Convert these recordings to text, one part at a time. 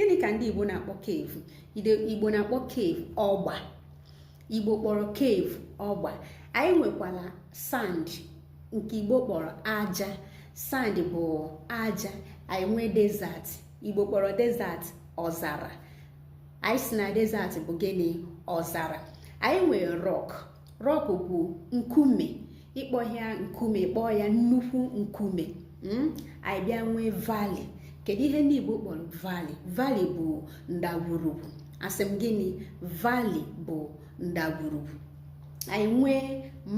gịnị ka ndị igbo na-akpọ cave igbo na-akpọ cave ọgba igbo kpọrọ cave ọgba anyị nwekwara sand nke igbo kpọrọ aja sand bụ aja anyị nwee desert igbo kpọrọ desert ọzara anyị sị na desert bụ gịnị ọzara anyị nwee rock rock bụ nkume ị kpọghị ya nkume ị kpọọ ya nnukwu nkume hmm? anyị bịa nwee valley kedu ihe ndị Igbo kpọrọ valley valley bụ ndagwurugwu asị m gịnị valley bụ ndagwurugwu anyị nwee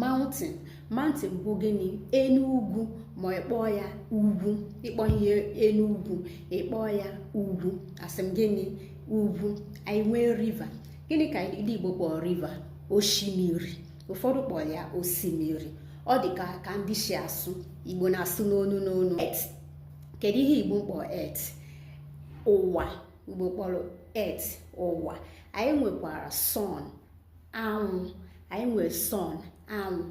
mountain mountain bụ gịnị enu ugwu ma ị kpọọ ya ugwu ị kpọghị ya enu ugwu ị kpọọ ya ugwu asị m gịnị ugwu anyị nwee river gịnị ka ndị Igbo kpọrọ river osimiri ụfọdụ kpọrọ ya osimiri ọ dị ka ka ndị si asụ Igbo na-asụ n'onu n'onu earth kedu ihe Igbo kpọrọ earth ụwa Igbo kpọrọ earth ụwa anyị nwekwara sun anwụ anyị nwere sun anwụ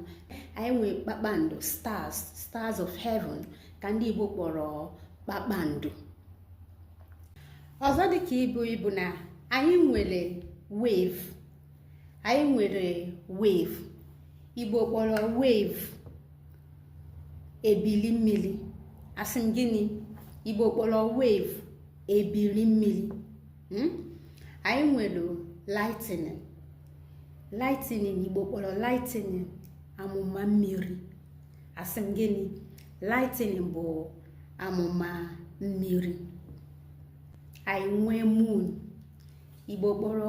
anyị nwere kpakpando stars stars of heaven ka ndị Igbo kpọrọ kpakpando ọzọ dị ka ibe ya bụ na anyị nwere wave anyị nwere wave igbo kpọrọ wave ebili mmiri asị m gịnị igbo kpọrọ wave ebili mmiri hmm? anyị nwere lightning lightning igbo kpọrọ lightning amụma mmiri asị m gịnị lightning bụ amụma mmiri anyị nwee moon igbo kpọrọ